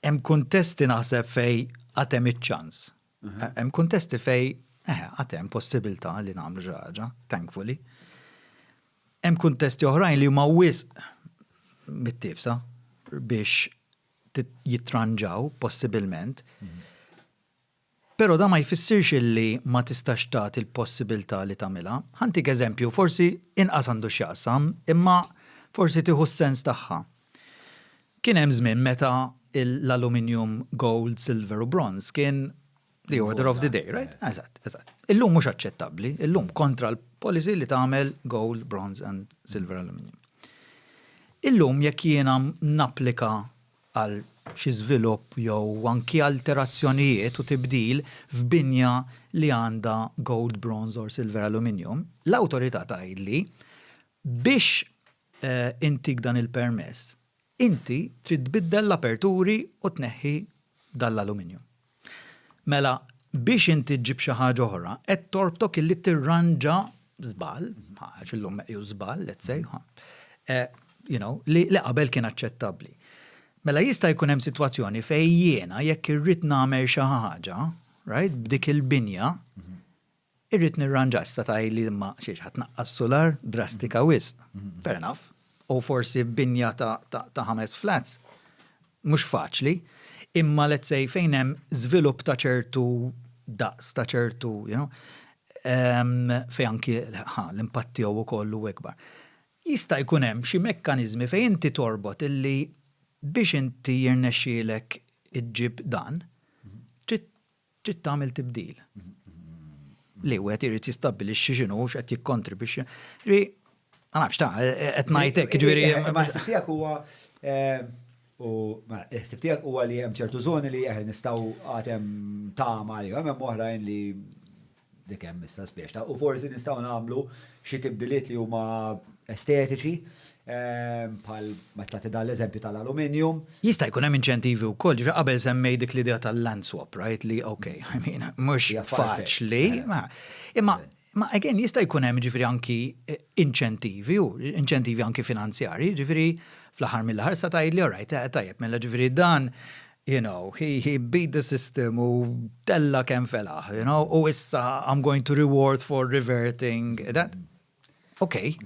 Hemm kuntesti naħseb fejn għad hemm iċ-ċans. Hemm kuntesti fejn eħe għad hemm possibilità li nagħmlu xi ħaġa, thankfully. Hemm kuntesti oħrajn li huma wisq mit-tifsa biex jittranġaw possibilment. Però dan ma jfissirx illi ma tistax tagħti l-possibiltà li tagħmilha. Ħa ntik eżempju, forsi inqas għandu x'jaqsam, imma forsi tieħu s-sens tagħha. Kien hemm żmien meta l-aluminjum, gold, silver u bronze kien the order of the day, right? Eżatt, eżatt. Illum mhux aċċettabbli, illum kontra l-policy li tagħmel gold, bronze and silver aluminum. Illum jekk jiena napplika għal xi żvilupp jew anki alterazzjonijiet u tibdil f'binja li għandha gold, bronze or silver aluminium, l-awtorità tgħidli biex intik dan il-permess inti trid tbiddel l-aperturi u tneħħi dan l-aluminium. Mela, biex inti ġġib xi ħaġa oħra, qed torbtok illi tirranġa żball, għax illum meqjus żball, let's say, eh, you know, li qabel kien aċċettabbli. Mela jista' jkun hemm sitwazzjoni fejn jiena jekk irrid nagħmel xi ħaġa, right, b'dik il-binja, Irrid nirranġa issa tgħidli imma xiex ħa tnaqqas sular drastika wisq. Fair enough. U forsi binja ta' ħames flats mhux faċli, imma let's say fejn hemm żvilupp ta' ċertu daqs ta' ċertu, you know, fejn anki l-impatt tiegħu wkoll hu ikbar. Jista' jkun hemm xi mekkaniżmi fejn inti torbot illi biex inti jirnexxielek iġġib dan, trid trid tagħmel tibdil. Li wieħed irid jistabbilixxi x'inhu x'qed jikkontribwixxi. Ġifieri, ma nafx ta' qed ngħid hekk, ġifieri. Eh, eh, ma ħsib tiegħek huwa eh, u ma ħsib tiegħek huwa li hemm ċertu żoni li aħna nistgħu għatem tama li hemm oħrajn li Dik hemm issa spiex ta'. U forsi nistgħu nagħmlu xi tibdiliet li huma estetiċi, bħal meta tagħti dan l-eżempju tal-aluminjum. Jista' jkun hemm inċentivi wkoll, ġifieri qabel semmejt dik l-idea tal-land swap, right, li ok, I mean, mhux faċli. Imma, imma again, jista' jkun hemm ġifieri anki inċentivi, inċentivi anki finanzjarji, ġifieri fl-aħħar mill-aħħar tista' tgħidli alright, tajjeb, mela ġifieri dan you know, he, he beat the system u tella kem felaħ, you know, u issa I'm going to reward for reverting that. Okay.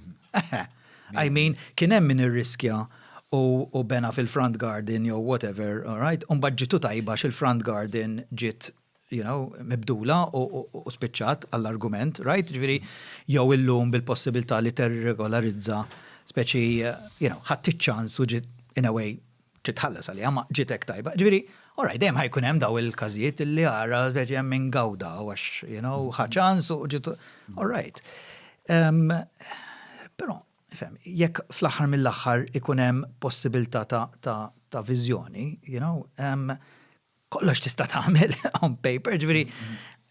I mean, kien hemm min irriskja u bena fil-front garden jew whatever, all right? Un ġitu tajba xil-front garden ġit you know, mibdula u spiċċat għall-argument, right? Ġviri, jew illum bil-possibilità li terregolarizza speċi, you know, ħadd ċans u ġit in a way trid tħallas għaliha ma ġiet hekk tajba. Ġifieri, all right, dejjem ħa jkun hemm dawn il-każijiet illi ara speċi hemm min gawda għax, you know, ħa ċans u ġiet all right. Però, fem, jekk fl-aħħar mill-aħħar ikun hemm possibilità ta' viżjoni, you know, kollox tista' tagħmel on paper, ġifieri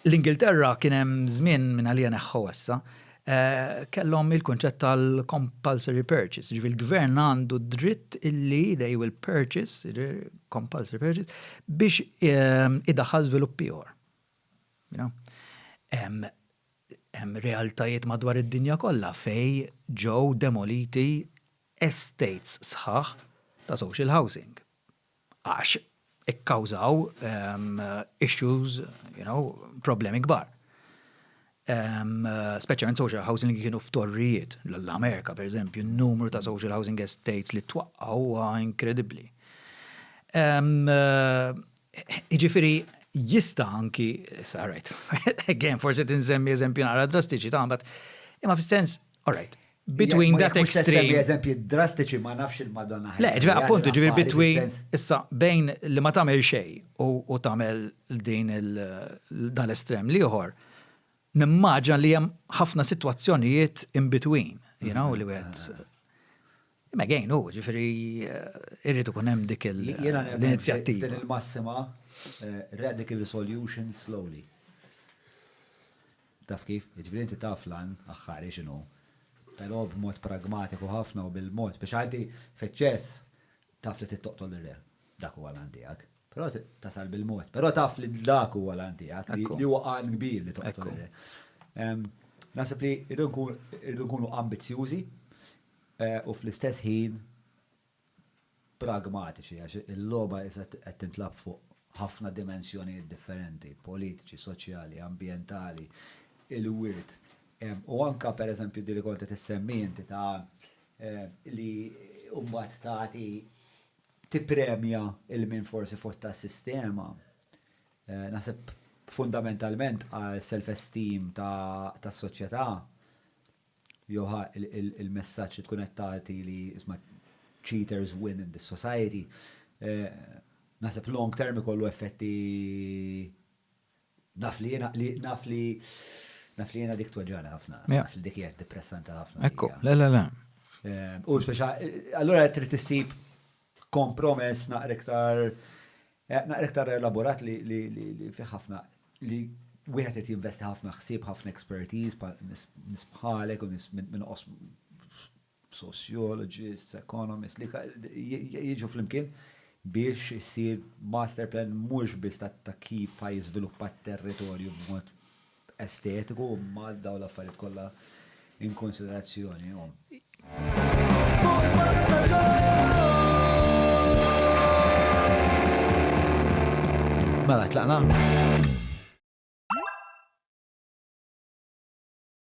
l-Ingilterra kien hemm żmien minn għalija neħħu issa, eh, kellhom il-kunċett tal-compulsory purchase, ġifieri l-gvern għandu dritt illi they will purchase, compulsory purchase, biex eh, idaħħal żvilupp ieħor. Hemm realtajiet madwar id-dinja kollha fej ġew demoliti estates sħaħ ta' social housing għax ikkawżaw issues, you know, problemi kbar. Speċjalment social housing li kienu f'torrijiet, l-Amerika per eżempju, n-numru ta' social housing estates li twaqqaw huwa inkredibbli. Jiġifieri jista' anki, issa rajt, again forsi tinsemmi eżempji naqra drastiċi ta' mbagħad, imma fis-sens, all right, Between that extreme. Eżempji drastiċi ma nafx il-Madonna. Le, ġvi appuntu ġvi between issa bejn li ma tagħmel xej u tagħmel din dan l-estrem liħor. Nimmaġa li hemm ħafna sitwazzjonijiet in between, you know, li wieħed Ma għajn u, ġifiri, eh, irritu kun hemm dik l-inizjattiva. Din il-massima, eh, radical solution slowly. Taf kif? Jiġifieri inti taf l-għan aħħari x'inhu, però b'mod pragmatiku ħafna u bil-mod, biex għaddi f'eċċess, taf li trid toqtol lir-re. Dak huwa l-għan tiegħek. Però tasal bil-mod. Però taf li dak huwa l-għan tiegħek, li huwa għan kbir li toqtol ir-re. Naħseb li rridu nkunu ambizzjużi u fl-istess ħin pragmatiċi għax il-logħba issa qed tintlagħab fuq ħafna dimensjonijiet differenti, politiċi, soċjali, ambjentali, il-wirt, u anke pereżempju dik li kont qed issemmi inti ta' li mbagħad tagħti tippremja lil min forsi fott tas-sistema. Naħseb fundamentalment għal self-esteem tas-soċjetà jew ħa il-messaġġ li tkun qed tagħti li isma' cheaters win in this society, naħseb long term ikollu effetti naf li jiena naf li naf li jiena dik tweġġagħni ħafna, naf li dik hija depressanti ħafna. Ekku, le le le. U speċa, allura trid issib kompromess naqra iktar naqra iktar elaborat li li li li fih ħafna li wieħed irid jinvesti ħafna ħsieb, ħafna expertise bħal nies bħalek u nies minn qosm sociologists, economists li jiġu flimkien biex isir master plan mhux biss ta' kif ħajjiżviluppa t-territorju b'mod estetiku u mal dawn l-affarijiet kollha in konsiderazzjoni. Mela, tlaqna?